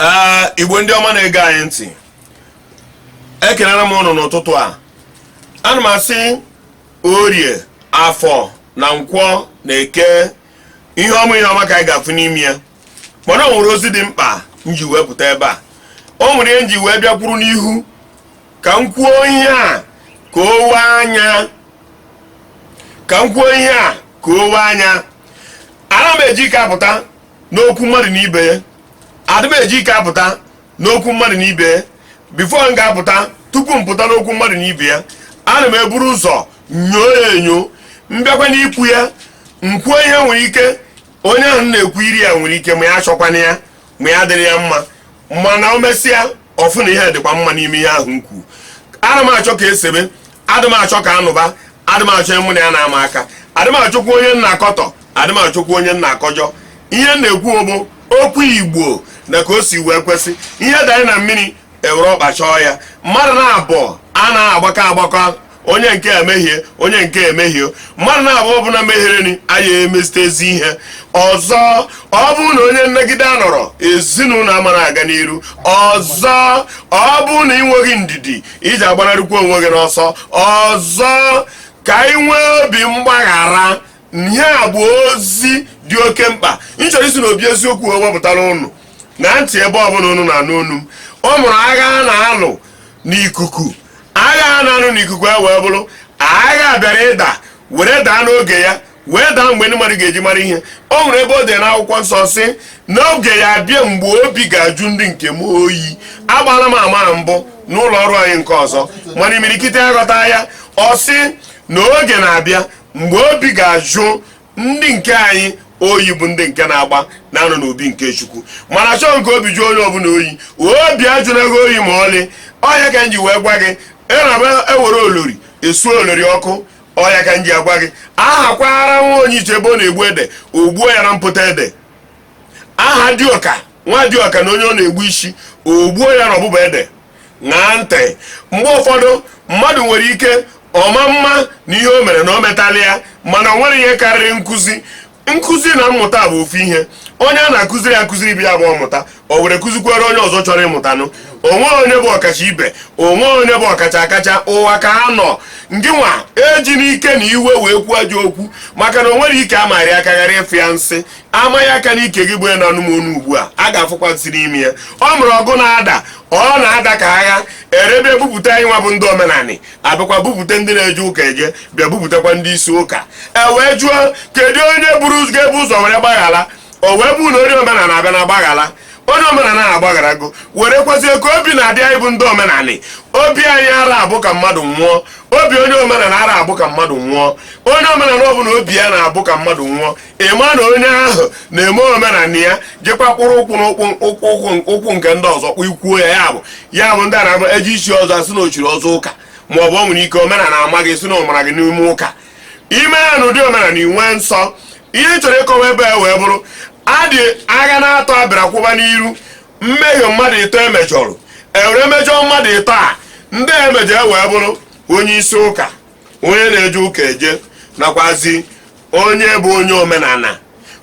ee igbo ndị ọma na-ege anyị ntị ekelere m ụnụ n'ụtụtụ a ana m asị orie afọ na nkwọ na eke ihe ọma ihe ọma ka anyị ga-afụ n'ime ya mana o nwere ozi dị mkpa m ji wee pụta ebe a o nwere ihe m ji wee bịakwuru n'ihu ka m kwuo ihe a ka o wee anya ana m eji ike apụta n'okwu mmadụ na ibe ya adị m eji ike apụta n'okwu mmadụ na ibe ya before m ga-apụta tupu m pụta n'okwu mmadụ na ibe ya ana m eburu ụzọ nyoo ya enyo m bịakwa n'ikwu ya m kwuo ihe nwere ike onye ahụ m na-ekwuru ya nwere ike ma ya achọkwana ya ma ya dịrị ya mma mana o mesịa ọ fụ na ihe dịkwa mma n'ime ihe ahụ m kwuru adị m achọ ka e sebe adị m achọ ka a nụba adị m achọ mụ na ya na-ama aka adị m achọkwa onye m na-akọtọ adị m achọkwa onye m na-akọjọ ihe m na-ekwu bụ okwu igbo na ka o si wee kwesị ihe danye na mmiri e were ọkpa chọọ ya mmadụ naabọ a na-agbakọ agbakọ onye nke a emehie onye nke a emehie mmadụ naabọ ọbụla mehiere anyị emezite ezi ihe ọzọ ọ bụrụ na onye nnagide anọrọ ezinụlọ amara aga n'iru ọzọ ọ bụrụ na ị nweghị ndidi iji agbanarịkwa onwe gị n'ọsọ ọzọ ka ị nwee obi mgbaghara ihe a bụ ozi dị oke mkpa m chọrọ isi na obi eziokwu wepụtara ụnụ na ntị ebe ọbụla ụnụ na-anụ onu m ọ mụrụ agha a na-alụ n'ikuku agha a na-alụ n'ikuku wee bụrụ agha bịara ịda were daa n'oge ya wee daa mgbe ndị mmadụ ga-eji mara ihe o nwere ebe e dere n'akwụkwọ nsọ sị na oge ya-abịa mgbe obi ga-ajụ ndị nke m oyi agbala m ama na mbụ n'ụlọ ọrụ anyị nke ọzọ mana imirikiti aghọta ya ọ sị na oge na-abịa mgbe obi ga-ajụ ndị nke anyị oyi bụ ndị nke na-agba na-anọ n'obi nke chukwu mana chọọ nke obi jụọ onye ọbụla oyi obi ajụna gị oyi ma ọlị ọ ya ka m ji wee gwa gị e were olori e suo olori ọkụ ọ ya ka m ji agwa gị aha kwaara nwa onye iche ebe ọ na-egbu ede o gbuo ya na mpụta ede aha dịọka nwa dịọka na onye ọ na-egbu isi o gbuo ya na ọbụba ede ṅaa ntị mgbe ụfọdụ mmadụ nwere ike ọ ma mma na ihe o mere na o metala ya mana o nwere ihe karịrị nkụzi nkụzi na mmụta bụ ofu ihe onye a na-akụziri ya akụziri ibe ya bụ ọ mụta o were kụzikwere onye ọzọ chọrọ ịmụtanụ o nwe onye bụ ọkacha ibe o nwe onye bụ ọkacha akacha ụwa ka a nọ ngị nwa ejina ike na iwe wee kwuo ajọ okwu maka na o nwere ike amaghị akagharị ịfụ ya nsị a ma gị aka n'ike gị bụ ya na anụmanụ ugbu a a ga-afụkwa nsị n'ime ya ọ bụrụ ọgụ na-ada ọ na-ada ka agha e were bupụta anyị nwa bụ ndị omenanị abịakwa bupụta ndị na-eje ụka eje bịa bupụtakwa ndị isi ụka e wee jụọ kedu onye buru ụzọ ga-ebu ụzọ were gbaghara o wee bụ na onye omenala abịa na gbaghara onye omenala ahụ agbagharago were kọwazie ka obi na-adị anyị bụ ndị omenanị obi anyị ara abụ ka mmadụ nwụọ obi onye omenala ara abụ ka mmadụ nwụọ onye omenala ọbụla obi ya na-abụ ka mmadụ nwụọ ị ma na onye ahụ na-eme omenala ya jekwa kpụrụ ụkwụ n'ụkwụ ụkwụ ụkwụ ụkwụ nke ndị ọzọ kpụ ikwuo ya ya bụ ya bụ ndị a na-ama eji isi ọzọ a sị na o chiri ọzọ ụka ma ọ bụ o nwere ike omenala ama gị si na ọmara gị n'ime ụka ime ya na ụdị omenala inwe nsọ ihe m chọrọ ịkọwa ebe a wee bụrụ adị agha na-atọ abịara kwụba n'iru mmehie mmadụ ịtọ e mejọrọ e were mejọ mmadụ ịtọ a ndị emejọ wee bụrụ onye isi ụka onye na-eje ụka eje nakwazi onye bụ onye omenala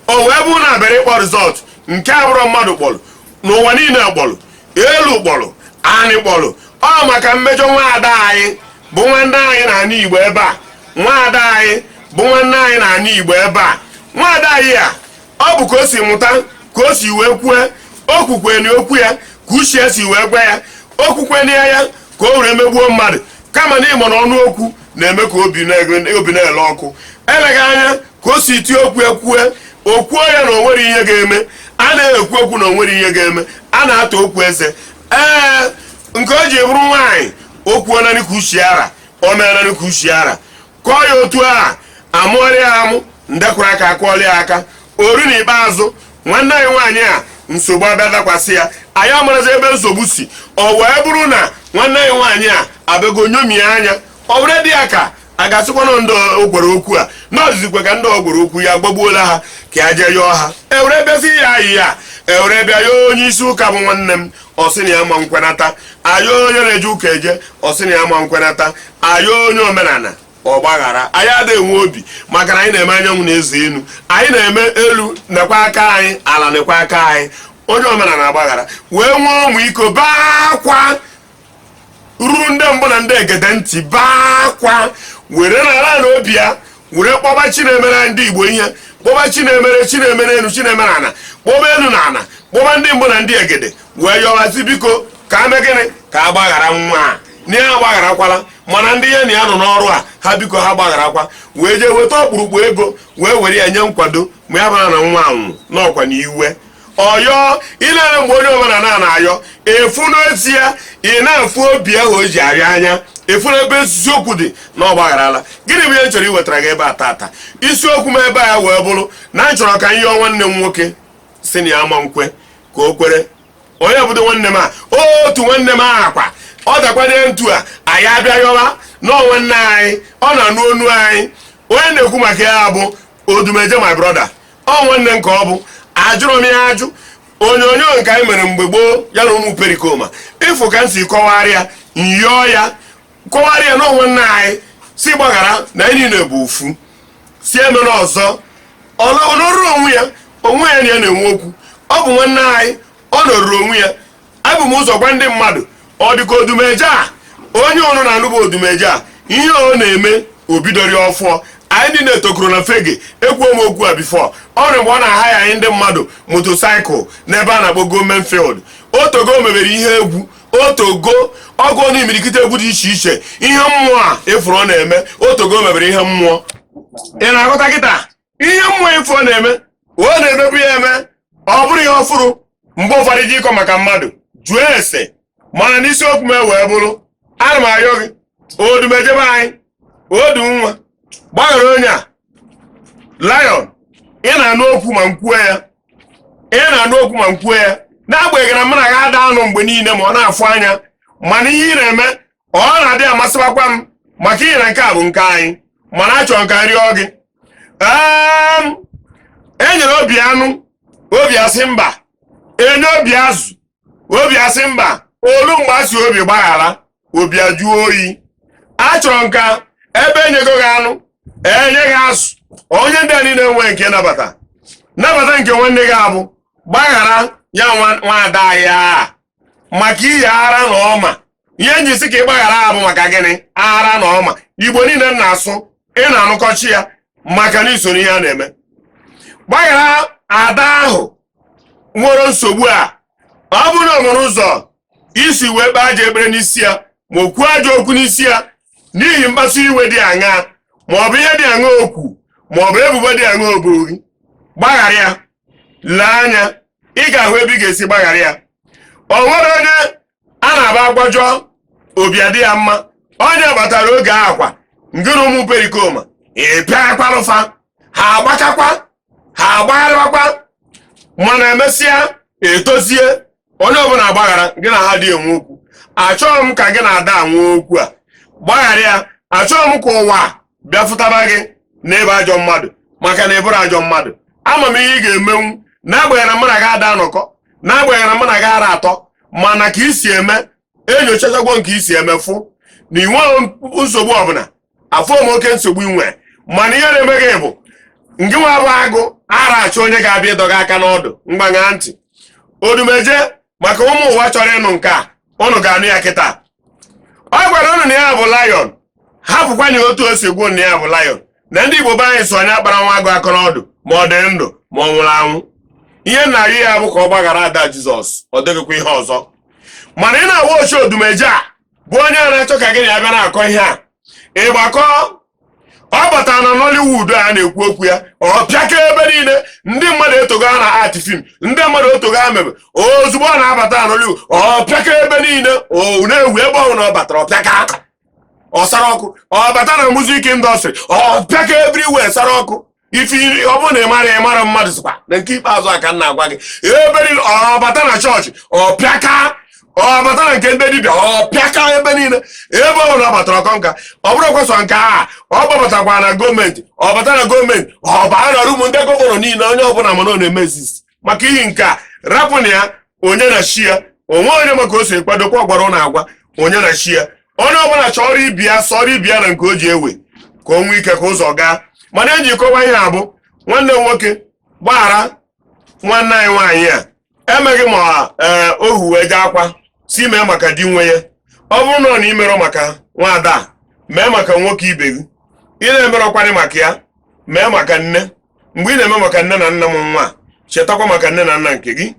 o wee bụrụ na abịara ịkpọ result nke abụrọ mmadụ kpọrọ n'ụwa niile kpọrọ elu kpọrọ anị kpọrọ ọ maka mmejọ nwaada anyị bụ nwanne anyị na anị igbo ebe a nwaada anyị bụ nwanne anyị na anị igbo ebe a nwaada anyị a ọ bụ ka o si mụta ka o si wee kwue o kwukweni okwu ya ka uche si wee gwa ya o kwukweni ya ka o were megbuo mmadụ kama na ị ma na ọnụ okwu na-eme ka obi na- obi na-ele ọkụ eleghị anya ka o si tie okwu ekwue o kwuo ya na o nwere ihe ga-eme a na-ekwu okwu na o nwere ihe ga-eme a na-ata okwu eze ee nke o ji bụrụ nwaanyị o kwuo nanị ka uche ya ra o mee nanị ka uche ya ra kọọ ya otu a a mụọrọ ya amụ ndị kụrụ aka akụọrọ ya aka o rue na ikpeazụ nwanne anyị nwaanyị a nsogbu abịa dakwasị ya anyị amarazi ebe nsogbu si o wee bụrụ na nwanne anyị nwaanyị a abịago nyomie anya o were dị ya ka a ga-asịkwa na ndị ọ gwara okwu a na ọzizikwe ka ndị ọ gwara okwu ya gbagbuola ha ka ya jee yọọ ha e were bịazi ya ayịyọ e were bịa yọọ onye isi ụka bụ nwanne m ọ sị na ya ma nkwenata a yọọ onye na-eje ụka eje ọ sị na ya ma nkwenata a yọọ onye omenala ọ gbaghara anyị adịghị enwe obi maka na anyị na-eme anyanwụ na eze elu anyị na-eme elu nekwa aka anyị ala nekwa aka anyị onye omenala agbaghara wee nwee ọmịiko baa akwa ruru ndị mbụ na ndị egede ntị baa akwa were n'ala ala obi ya were kpọba chi na-emere ndị igbo ihe kpọba chi na-emere chi na-emere enu chi na-emere ana kpọba enu na ana kpọba ndị mbụ na ndị egede wee yọwazi biko ka e mee gịnị ka a gbaghara nwa a na ya agbagharakwala mana ndị ya na ya nọ n'ọrụ a ha biko ha gbagharakwa wee jee weta ọkpụrụkpụ ego wee were ya nye nkwado ma ya bara na nwa anwụ n'ọkwa na iwe ọyọ ị na-ere mgbe onye ọbụla na na-ayọ efu n'ezie ị na-afụ obi ahụ o ji arịa anya efu n'ebe eziokwu dị na ọ gbagharala gịnị bụ ihe m chọrọ iwetara gị ebe a tata isiokwu m ebe a wee bụrụ na m chọrọ ka m yọọ nwanne m nwoke si na ya ama nkwe ka o kwere onye bụdo nwanne m a otu nwanne m ahụ akwa ọ dakwanye ntu a anyị abịa yọwa na ọ nwanne anyị ọ na-anụ onu anyị onye na-ekwu maka ya bụ odumeje my brother ọ nwanne m ka ọ bụ ajụrọ m ya ajụ onyonyo nke anyị mere mgbe gboo ya na ụmụ perikoma ị fụ ka m si kọwara ya m yọọ ya kọwara ya na ọ nwanne anyị si gbaghara na anyị niile bụ ofu si emene ọzọ ọ nọ- ọ nọrọ onwe ya onye ya na ya na-enwe okwu ọ bụ nwanne anyị ọ nọrọ onwe ya ebu m ụzọ gwa ndị mmadụ ọ dịka odumeje a onye unu na-anụ bụ odumeje a ihe ọ na-eme o bidorọ ọfụụ anyị ndị na-etokoro na fege ekwuo m okwu a before o nwere mgbe ọ na-ahaya enye ndị mmadụ motorcycle n'ebe a na-akpọ government field o tego o mebere ihe egwu o tego ọ gụ na imirikiti egwu dị iche iche ihe mmụọ a ị fụrụ ọ na-eme o tego o mebere ihe mmụọ ị na-aghọta kịta ihe mmụọ ị fụ ọ na-eme ọ na-emebu ya eme ọ bụrọ ihe ọfụrụ mgbe ụfọdụ ji ịkọ maka mmadụ jụọ ese mana n'isiokwu m wee bụrụ ana m ayọ gị odumeje be anyị odu nwa gbaghara onye a lion ị na-anụ okwu ma m kwuo ya n'agbanyeghị na mụ na ya ada anọ mgbe niile ma ọ na-afụ anya mana ihe ị na-eme ọ na-adị amasịbakwa m maka ihi na nke a bụ nke anyị mana achọrọ m ka m rịọ gị e nyere obi anụ obi asị mba enye obi azụ obi asị mba o lu mgbe a sị obi gbaghara obi ajụọ oyi achọrọ m ka ebe enyego gị anụ enye gị azụ onye ndị a niile nwe nke nabata nabata nke nwanne gị a bụ gbaghara ya nwa ada ahụ maka ihi ara na ọma ihe m ji si ka ị gbaghara ya bụ maka gịnị ara na ọma igbo niile m na-asụ ị na-anụkọcha ya maka na i soro ihe a na-eme gbaghara ada ahụ nwere nsogbu a ọ bụrụ na o nwere ụzọ i si wee kpee ajọ ekpere n'isi ya ma o kwuo ajọ okwu n'isi ya n'ihi mkpasu iwe dị aṅaa ma ọ bụ ihe dị aṅa okwu ma ọ bụ ebubo dị aṅa o bo gị gbaghara ya lee anya ị ga-ahụ ebe ị ga-esi gbaghara ya o nwerọ onye a na-agwa agwajọ obi adị ya mma onye batara oge akwa ngịrị ụmụ perikoma ị pịakwarụ fa ha agbachakwa ha agbagharịwakwa mana emesịa etozie onye ọbụla agbaghara gị na ha dị enwe okwu achọghị m ka gị na ada nwee okwu a gbaghara ya achọghị m ka ụwa bịa fụtaba gị n'ebe ajọ mmadụ maka na ị bụrọ ajọ mmadụ ama m ihe ị ga-emenwu n'agbanyeghị na mụ na gị ada anọkọ n'agbanyeghị na mụ na gị ara atọ mana ka i si eme enyochachagwo m ka i si eme fụ na ị nweghị nsogbu ọbụla afụrọ m oke nsogbu i nwe mana ihe na-eme gị bụ ngị nwa bụ agụ ara achọ onye ga-abịa ịdọga aka n'ọdụ mgbanya ntị odumeje maka ụmụ ụwa chọrọ ịnụ nke a ụnụ ga-anụ ya kịta ọ gwara ụnụ na ya bụ lion hapụkwanụ otu o si kwuo na ya bụ lion na ndị igbo be anyị sị onye akpara nwa agụ aka n'ọdụ ma ọ dị ndụ ma ọ nwụrụ anwụ ihe m na-arịọ ya bụ ka ọ gbaghara ada jizọs ọ dịghịkwa ihe ọzọ mana ị na-awa ochi odumeje a bụ onye a na-achọ ka gị na ya bịa na-akọ ihe a ịgbakọ ọ bata na Nollywood a na-ekwu okwu ya ọ pịaka ebe niile ndị mmadụ etego aka na-act film ndị mmadụ etego aka mebe ozugbo ọ na-abata na Nollywood ọ pịaka ebe niile o na-ewu ebe ọbụla ọ batara ọ pịaka ọ sara ọkụ ọ bata na music industry ọ pịaka everywhere sara ọkụ if ọ bụrụ na ị mara ị mara mmadụ sịkwa na nke ikpeazụ a ka m na-agwa gị ebe niile ọ bata na chọọchị ọ pịaka ọ bata na nke ndị dibịa ọ pịaka ebe niile ebe ọ bụla ọ batara ọ conquer ọ bụrọkwa sọ nke a ọ gbabatakwa na gọọmenti ọ bata na gọọmenti ọ baa na rumu ndị gọvanọ niile onye ọbụla ma na ọ na-eme exist maka ihi nke a rapụnụ ya onye na chi ya o nwe onye ma ka o si kwadokwa ọgbara na agwa onye na chi ya onye ọbụla chọrọ ibi ya sọrọ ibi ya na nke o ji ewe ka o nwee ike ka ụzọ gaa mana eji kọwa ihe a bụ nwanne nwoke gbaghara nwanne anyị nwaanyị a emeghị ma ee eh, ohu wee jee akwa si mee maka di nwe ya ọ bụrụnụ na i merọ maka nwaada mee maka nwoke ibe gị ị na-emerọkwanị maka ya mee maka nne mgbe ị na-eme maka nne na nna m nwa chetakwa maka nne na nna nke gị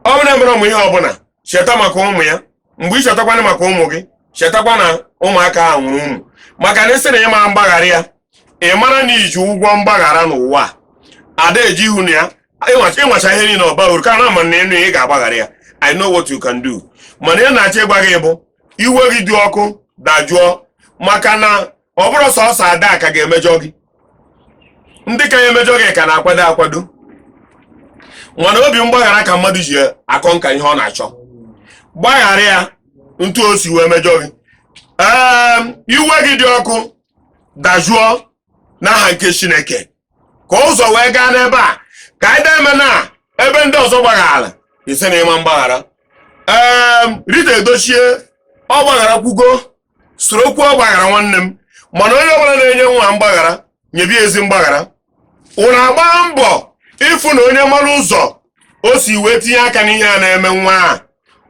ọ bụrụ na e mere ụmụ ihe ọbụla cheta maka ụmụ ya mgbe ị chetakwana maka ụmụ gị chetakwa na ụmụaka ahụ nwụrụ ụmụ maka na ị sị na ị ma agbaghara ya ị mara na i ji ụgwọ mgbaghara n'ụwa ada eji ihu na ya ịnwacha ihe niile ọba uru ka na ama m na ị ga-agbaghara ya I know what you can do mana ihe m na-achọ ịgwa gị bụ iwe gị dị ọkụ dajụọ maka na ọ bụrọ sọsọ ada ka ga-emejọ gị ndị ka ya emejọ gị ka na-akwado akwado mana obi mgbaghara ka mmadụ ji a-conquer ihe ọ na-achọ gbaghara ya otu o si wee mejọ gị ee iwe gị dị ọkụ dajụọ n'aha nke Chineke ka ụzọ wee gaa n'ebe a ka anyị deme na ebe ndị ọzọ gbaghara ị sị na ị ma agbaghara ee Rita Edochie ọ gbagharakwugo soro kwuo ọ gbaghara nwanne m mana onye ọbụla na-enye nwa mgbaghara nyebi ezi mgbaghara unu agbaa mbọ ịfụ na onye mara ụzọ o si wee tinye aka n'ihe a na-eme nwa a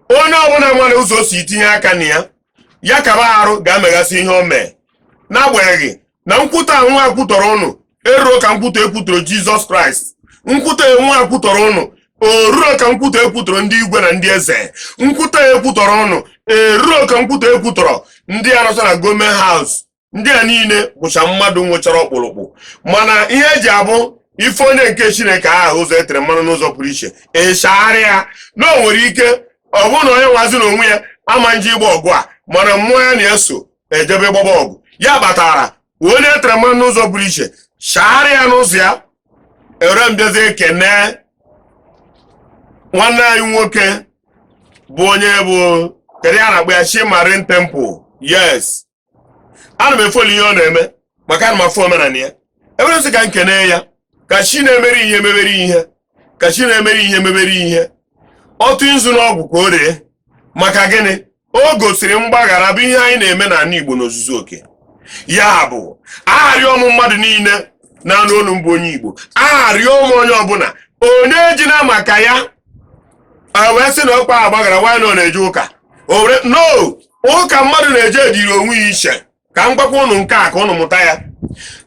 onye ọbụla mara ụzọ o si tinye aka na ya ya kaba arụ ga-emeghasị ihe o mee n'agbanyeghị na nkwutọ nwa a kwutọrọ ụnụ eruro ka nkwutọ e kwutọrọ jizọs kraịst nkwutọ nwa a kwutọrọ ụnụ eruro ka nkwutọ e kwutọrọ ndị igwe na ndị eze nkwutọ e kwutọrọ ụnụ eruro ka nkwutọ e kwutọrọ ndị a nọcha na gọọment haus ndị a niile bụcha mmadụ nwechara ọkpụrụkpụ mana ihe eji abụ ife onye nke chineke aha ụzọ etere mmanụ n'ụzọ pụrụ iche echegharịa na o nwere ike ọ bụrụ na onye nwazi na onwe ya ama nje ịgba ọgụ a mana mmụọ ya na-eso ejebe gbaba ọgụ ya kpatara onye etere mmanụ n'ụzọ pụrụ iche chaara ya n'ụzọ ya ewere m bịazi ekene nwanne anyị nwoke bụ onye bụ kedu ihe a na-akpọ ya Chi Marine Temple yes ana m efoli ihe ọ na-eme maka ana m afụ omenala ya ewere m sị ka m kene ya ka chi na-emere ihe mebere ihe ka chi na-emere ihe mebere ihe ọ tụ nzu n'ọgwụ ka o ree maka gịnị o gosiri mgbaghara bụ ihe anyị na-eme n'ala Igbo n'ozuzu oke ya bụ arịọ m mmadụ niile na-anụ olu m bụ onye Igbo arịọ m onye ọbụla onye ejina maka ya wee sị na ọkwa a gbaghara nwa a na ọ na-eje ụka no ụka mmadụ na-eje dịrị onwe ya iche ka m gwakwa ụnụ nke a ka ụnụ mụta ya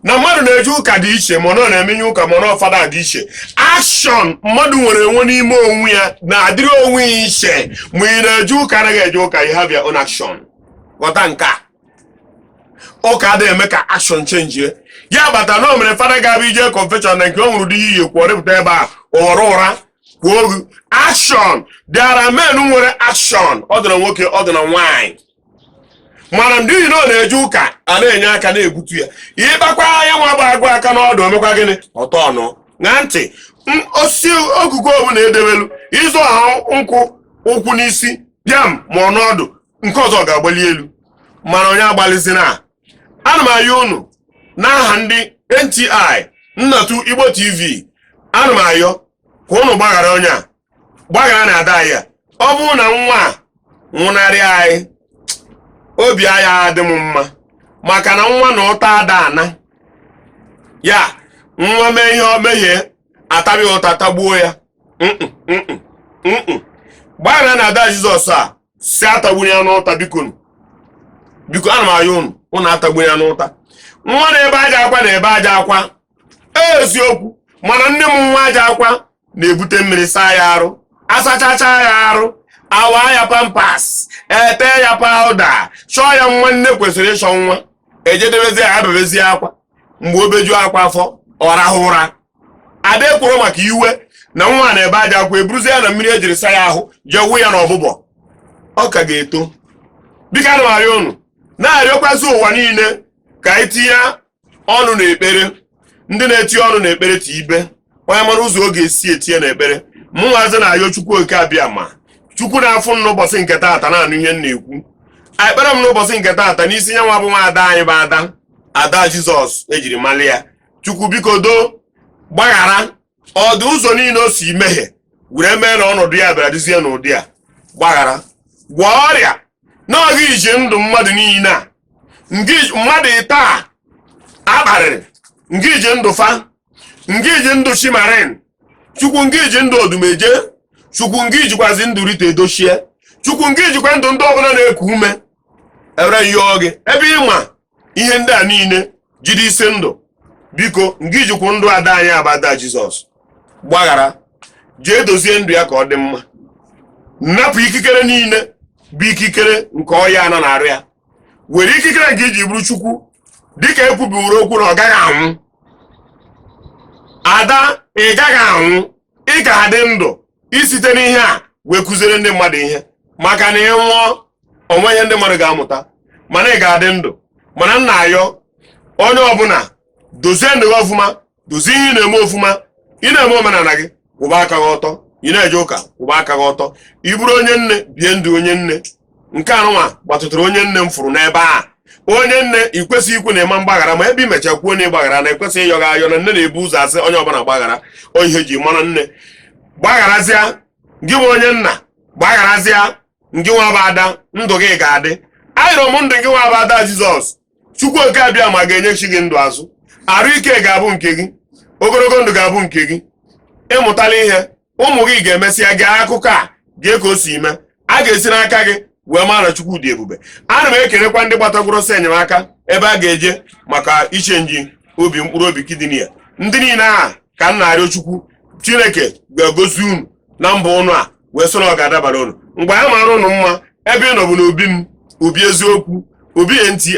na mmadụ na-eje ụka dị iche ma ọ na-eme onye ụka ma ọ fada dị iche akshọn mmadụ nwere enwe n'ime onwe ya na-adịrị onwe ya iche ma ị na-eje ụka anaghị eje ụka you have your own action ghọta nke a ụka adịghị eme ka akshọn chenjie ya kpatara na o nwere fada ga-abịa ije confession na nke o nwere dị ihe iyi kwuo ọ rịpụta ebe a ụghọrọ ụra kwuo ogu akshọn there are men nwere akshọn ọ dị na nwoke ọ dị na nwaanyị mana ndị ihi na ọ na-eje ụka a na-enye aka na-egbutu ya ị kpakwa ya nwa kpa agụ aka n'ọdụ o mekwa gịnị ọ tọ ọnụ na ntị osisi ogugu ọbụla edebelu ị zọ ha nkwụ ụkwụ n'isi bịam ma ọ n'ọdụ nke ọzọ ga-agbali elu mana onye agbalizina a ana m ayọ unu n'aha ndị NTI Nnatu Igbo TV ana m ayọ ka unu gbaghara onye a gbagharanụ ada ya ọ bụrụ na nwa a nwụnarị anyị obi aya adị m mma maka na nwa na ụta ada ana ya nwa mee ihe o mehie atabi ụta tagbuo ya Mm-mm, mm-mm, mm-mm. gbagharanụ ada jizọs a sị atagbula ya n'ụta bikonu biko ana m ayọ unu unu atagbula ya n'ụta nwa na-ebe ajọ akwa na-ebe ajọ akwa eziokwu mana nne mụ nwa aja akwa na-ebute mmiri saa ya arụ asachacha ya arụ awa ya pampas ete ya pawụda chọọ ya mma nne kwesịrị ịchọ nwa ejedebezi ya ebebezie akwa mgbe o beju akwa afọ ọ rahụ ụra a da ekworo maka iwe na nwa na-ebe aja akwa eburuzie ya na mmiri e jiri saa ya ahụ jee wụ ya n'ọbụbọ ọ ka ga-eto biko ana m arịọ unu na-arịọkwazi ụwa niile ka anyị tinye ọnụ na ekpere ndị na-eti ọnụ na ekpere tiibe onye mara ụzọ ọ ga-esi etinye na ekpere mụnwazi na-ayọ chukwu oke abịama chukwu na-afụ m n'ụbọchị nke taata na-anụ ihe m na-ekwu ekpere m n'ụbọchị nke taata n'isi ya nwa bụ nwa ada anyị bụ ada ada jizọs e jiri malị ya chukwu biko doo gbaghara ọ dụ ụzọ niile o si mehie were mee na ọnọdụ ya bịara dịzie n'ụdị a gbaghara gwọọ ọrịa na ọ gị ji ndụ mmadụ niile a mmadụ ịtọ a a kparịrị ngị ji ndụ fa ngị ji ndụ chi marine chukwu ngị ji ndụ odumeje chukwu ngị jikwazi ndụ rita edochie chukwu ngị jikwa ndụ ndị ọbụla na-eku ume e were yọọ gị ebe ị ma ihe ndị a niile jide isi ndụ biko ngị jikwa ndụ ada anyị a bụ ada jizọs gbaghara jee dozie ndụ ya ka ọ dị mma napụ ikikere niile bụ ikikere nke ọya a nọ na arụ ya were ikikere nke i ji bụrụ chukwu dịka e kwubiworo okwu na ọ gaghị anwụ ada ị gaghị anwụ ị ga-adị ndụ i site n'ihe a wee kụziere ndị mmadụ ihe maka na ị nwụọ o nwe ihe ndị mmadụ ga-amụta mana ị ga-adị ndụ mana m na-ayọ onye ọbụla dozie ndụ gị ọfụma dozie ihe ị na-eme ọfụma ị na-eme omenala gị kwụba aka gị ọtọ ị na-eje ụka kwụba aka gị ọtọ ị bụrụ onye nne bie ndụ onye nne nke anụnwa gbatụtara onye nne m fụrụ n'ebe a onye nne ị kwesịghị ikwu na ị ma gbaghara ma ebe i mecha kwuo na ị gbaghara na ekwesịghị ịyọ gị ayọ na nne na-ebu ụzọ asị onye ọbụla gbaghara ihe e ji mara nne gbagharazịa gị nwa onye nna gbagharazịa ngị nwa bụ ada ndụ gị ga-adị ayọrọ m ndụ gị nwa bụ ada jizọs chukwu oke abịama ga-enyechi gị ndụ azụ arụ ike ga-abụ nke gị ogologo ndụ ga-abụ nke gị ị mụtala ihe ụmụ gị ga-emesịa gee akụkọ a gee ka o si mee a ga-esi n'aka gị wee mara na chukwu dị ebube ana m ekelekwa ndị gbatagworo ọsọ enyemaka ebe a ga-eje maka ịchenji obi mkpụrụ obi kidney ya ndị niile a ka m na-arịọ chukwu chineke ga-agọzi unu na mbọ ụnụ a wee sị na ọ ga-adabara ụnụ mgbe a mara ụnụ mma ebe ị nọ bụ n'obi m obi eziokwu obi nti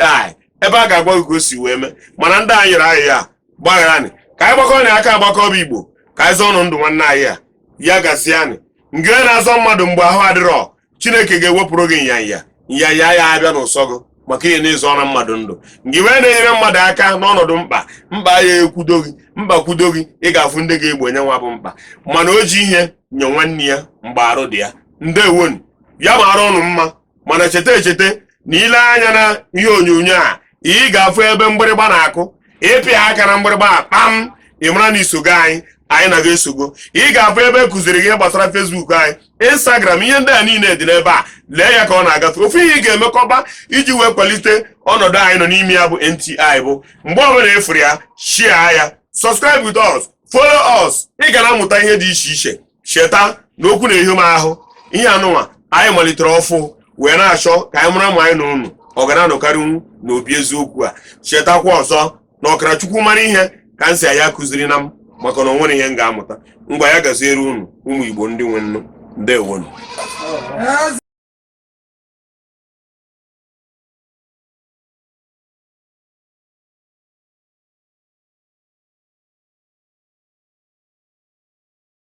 ebe a ga-agwa gị ka o si wee mee mana ndị a nyere anyị ya gbaghara anyị ka anyị gbakọnụ aka agbakọ bụ igbo ka anyị zọọnụ ndụ nwanne anyị a ya gaziere anyị ngị wee na-azọ mmadụ mgbe ahụ adịrọ chineke ga-ewepụrụ gị nyanya nyanya ya abịa n'ụsọ gị maka ihi na ị zọọra mmadụ ndụ ngị wee na-enyere mmadụ aka n'ọnọdụ mkpa mkpa ya ekwudo gị mkpa kwudo gị ị ga-afụ ndị ga-egbo nya nwa bụ mkpa mana o ji ihe nye nwanne ya mgbe arụ dị ya ndewonu ya mara unu mma mana cheta echeta na i lee anya na ihe onyonyo a ị ga-afụ ebe mgbịrịgba na-akụ ị pịa aka na mgbịrịgba a kpam ị mara na i sogo anyị anyị na gị esogo ị ga-afụ ebe kụziri ihe gbasara facebook anyị instagram ihe ndị a niile dị n'ebe a lee ya ka ọ na-agafe ofu ihe ị ga-emekọba iji wee kwalite ọnọdụ anyị nọ n'ime ya bụ nti bụ mgbe ọ bụla ị fụrụ ya share ya subscribe with us follow us ị ga na-amụta ihe dị iche iche cheta na okwu na-ehi m ahụ ihe anụnwa anyị malitere ọfụ wee na-achọ ka anyị mara ma anyị na unu ọ ga na-anọkarịnwu n'obi eziokwu a chetakwa ọzọ na ọkara chukwu mara ihe ka m si ya kụzierenụ m maka na o nwere ihe m ga-amụta ngwa ya gaziere unu ụmụ igbo ndị nwe nnụ ndewonu